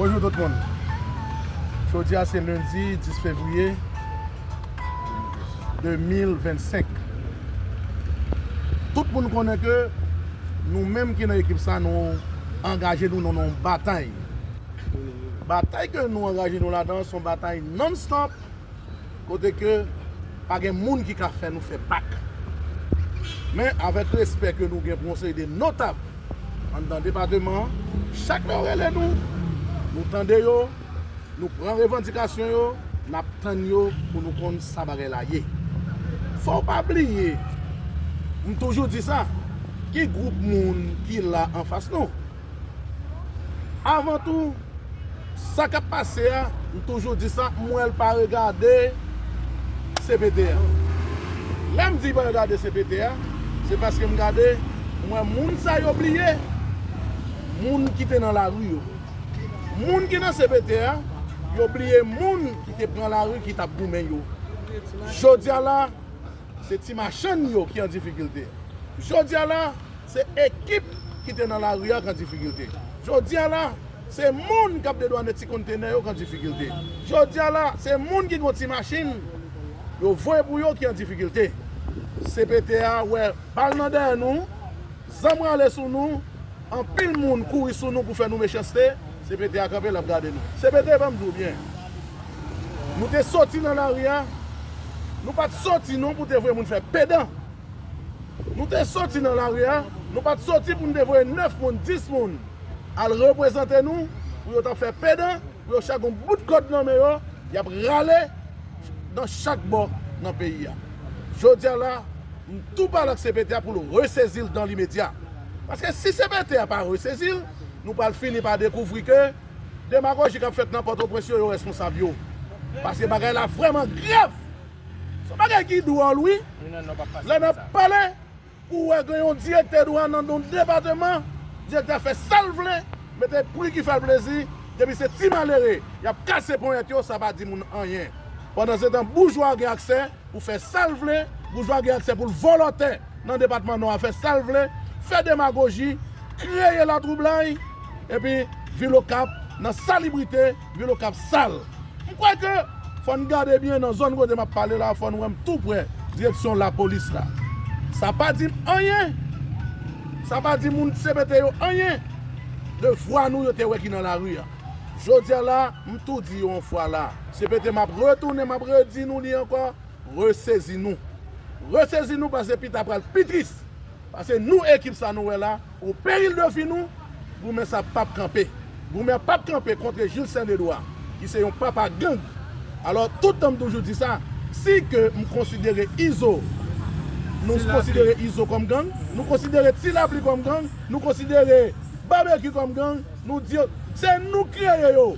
Bonjou tout moun Jodi a se lendi 10 fevriye 2025 Tout moun konnen ke nou menm ki nan ekip sa nou angaje nou nan yon batay Batay ke nou angaje nou ladan son batay non stop kote ke pa gen moun ki ka fè nou fè bak. Men, avèk respè ke nou gen pou yon seri de notab anndan depateman an, chak lè yo rele nou, nou tande yo, nou pran revandikasyon yo, n ap tann yo pou nou konn sa bagay la ye. Fò w pa bliye, m toujou di sa, ki gwoup moun ki la anfas nou? Avan tou, sa k ap pase a, m toujou di sa, m wè l pa regade cpt a. Lè m di l pa regade cpt a, se paske m gade, m wè moun sa yo bliye, moun ki te nan lari yo. Moun ki nan cpt a, yo bliye moun ki te pran lari ki t ap goumen yo. Jodi a la. Se ti machann yo ki an difikilte. Jodi a la, se ekip ki te nan lari a k an difikilte. Jodi a la, se moun k ap dedwane ti konntenè yo k an difikilte. Jodi a la, se moun ki gen yon ti machin yo voye pou yo ki an difikilte. CPT a wè bal nan dèyè nou, zam rale sou nou. Anpil moun kouri sou nou pou fè nou mechanste, CPT a kanpe lap gade nou. CPT banm di w byen, nou te soti nan lari a, nou pat soti non pou te voye moun fè pedan. Nou te soti nan lari a, nou pat soti pou nou te voye 9 moun, 10 moun al reprezante nou pou yo ta fè pedan, pou yo chak gon bout kòd nan men yo, yap rale nan chak bò nan peyi a. Jodi a la, m tou pale ak CPT a pou l resezi l dan limedya. Paske si CPT a pa resezi l, nou pral fini pa dekouvri ke demagoji k ap fèt nan Pòtoprens yo yo responsab yo. Paske bagay la vrèman grav. Se yon bagay ki dwòl wi. Lè n ap pale pou w wè gen yon direktè dwàn nan yon depateman, direktè a fè sa l vle, mete pri ki fè l plezi, depi se ti malere y ap kase ponyèt yo, sa pa di moun anyen. Pandansetan boujwa gen aksè pou fè sa l vle, boujwa gen aksè pou l vòlò tè. nan depatman Nò a fè sa l vle, fè demagoji, kreye latwoublay, epi vil Okap nan salibrite, vil Okap sal. M kwè ke fò n gade byen nan zòn kote m ap pale la, fò n wè m tou prè direksyon lapolis la. Sa pa di m anyen, sa pa di moun cpt yo anyen de vwa nou yo te wè ki nan lari a. Jodi a la, m tou di yo yon fwa la, cpt m ap retounen, m ap redi nou li ankò, Resezi nou! Resezi nou pase pita pral pi tris! Pase nou ekip sa nou wè la o peril de vi nou, goumen sa pap kanpe! Goumen an pap kanpe kontre Jil Sen Dedwa ki se yon papa gang! Alò tout tan m toujou di sa, si ke m konsidere Izo, nou konsidere Izo kòm gang, nou konsidere Ti Lapli kòm gang, nou konsidere Babekyou kòm gang, Nou di yo, Se nou k kreye yo!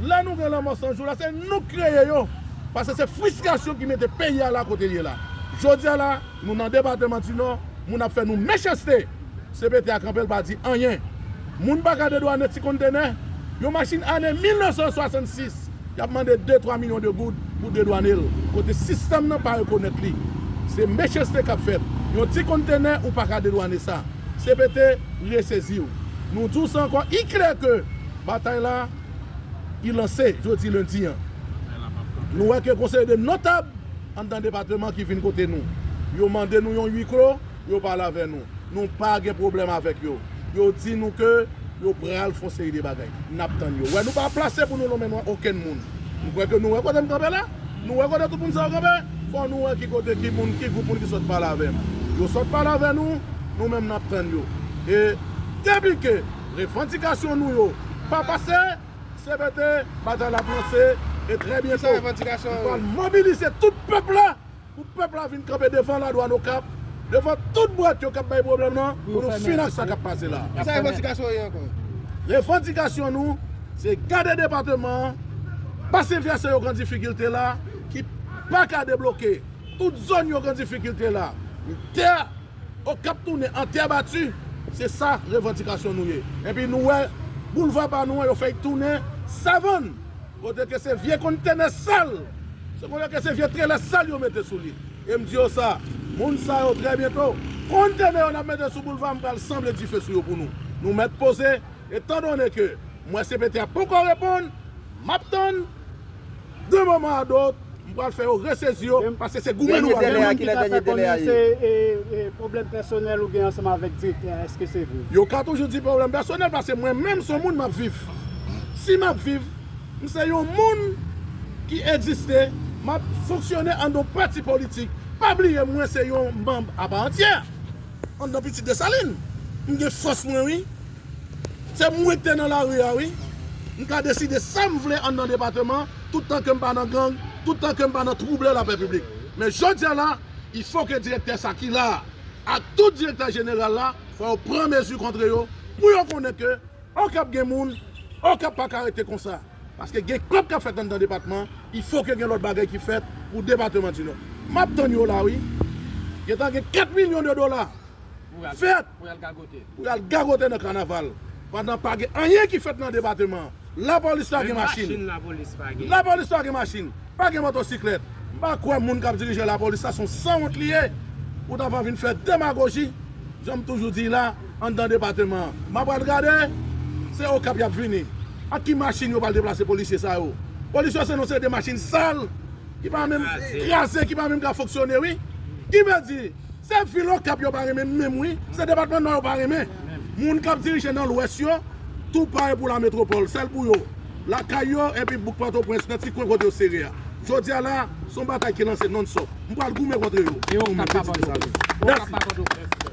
Lè nou gen lanmò san jou la, se nou k kreye yo! Pase se fristrasyon ki mete peyi a la kote l ye la. Jodi a la, nou nan depateman di Nò, moun ap fè nou mechanste! Cpt a kanpe l pa di anyen. Moun pa ka dedwane ti konntenè, yon machin ane 1966, y ap mande de twa milyon de goud pou dedwane l, kote sistèm nan pa rekonèt li. Se mechanste k ap fèt. Yon ti konntenè ou pa ka dedwane sa. Cpt resezi w. Nou di w sa ankò i klè ke batay la ki lanse jodi lendi an, nou wè ke gon seri de notab anndan depateman ki vin kote nou. Yo mande nou yon ui klo, yo pale avè nou. Nou pa gen pwoblèm avèk yo. Yo di nou ke yo pral fon seri de bagay. N ap tann yo. Wè nou pa plase pou nou lonmen nwa okenn moun. M kwè ke nou wè kote m kanpe la. Nou wè kote tout moun sa yo kanpe? Fò nou wè ki kote, ki moun, ki gwoup moun ki sot pale avè m. Yo sot pale avè nou, nou menm n ap tann yo. E depi ke revandikasyon nou yo pa pase, cpt, batay la ap lanse, e trè byento, nou pral mobilize tout pèp la! Pou pèp la vin kanpe devan la douane okap, devan tout bwat yo kap bay pwoblèm nan pou nou fin ak sa kap pase la. Kisa revandikasyon ou ye ankò? Revandikasyon nou se gade depateman an, basen vèse yo k an difikilte la ki paka debloke, tout zòn yo k an difikilte la, pou tè okap tounen an tè bati, se sa revandikasyon nou ye. Epi nou wè boulva pa nou an yo fèy tounen savann. kote ke se vye kontenè sal, se kote ke se vye trelè sal yo mete sou li. E m di yo sa, moun sa yo trè byento, kontenè yo n ap mete sou boulva m pral sanble dife sou yo pou nou. Nou mèt poze, etan done ke m wè CPT a poko reponn, m ap tann, d'un moment à d'autre, M pral fè yo resezi yo paske se goumen nou pral goumen. Gen moun ki ta fè konnen se pwoblèm pèsonèl ou gen ansanm avèk direktè a, èske se vre? Yo ka toujou di pwoblèm pèsonèl paske mwen menm son moun m ap viv. Si m ap viv, m se yon moun ki egziste, m ap fonksyone anndan yon pati politik. Pa bliye mwen se yon manb apa antyè anndan Pitit Desalin. M gen fòs mwen wi. Se m rete nan lari a wi. M ka deside sa m vle anndan depateman tout tan ke m pa nan gang, tout tan ke m pa nan twouble lapè piblik. Men jodi a la, il fo ke direktè sa ki la a ak tout direktè jeneral la fò yo pran mezi kontre yo pou yo konnen ke Okap gen moun, Okap pa ka rete konsa. Paske gen kòb k ap fèt anndan depatman, il fo ke gen lòt bagay ki fèt pou depateman di Nò. M ap tann yo la wi. Gen tan gen 4 milyon de dola. fèt pou y al gagote nan kanaval pandan pa gen anyen ki fèt nan depateman an. Lapolis pa gen machin, lapolis pa gen machin, pa gen motosiklèt. M pa kwè moun k ap dirije lapolis la se yon sanwont li ye pou ta pran vin fè demagoji jan m toujou di la anndan depateman an. M apral gade se Okap y ap vini. Ak ki machin yo pral deplase polisye sa yo? Polis yo se non se de machin sal ki pa menm kraze, ki pa menm ka fonksyone wi. Kivèdi Se vil okap yo pa renmen menm wi se depatman nò yo pa renmen moun kap dirije nan lwès yo tou pare pou la metropole sèl pou yo lakay yo epi bouk pòtoprens nan ti kwen kote yo sere a jodia la son batay ki lanse non stop m pral goumen kontre yo e okap pa pòtoprens.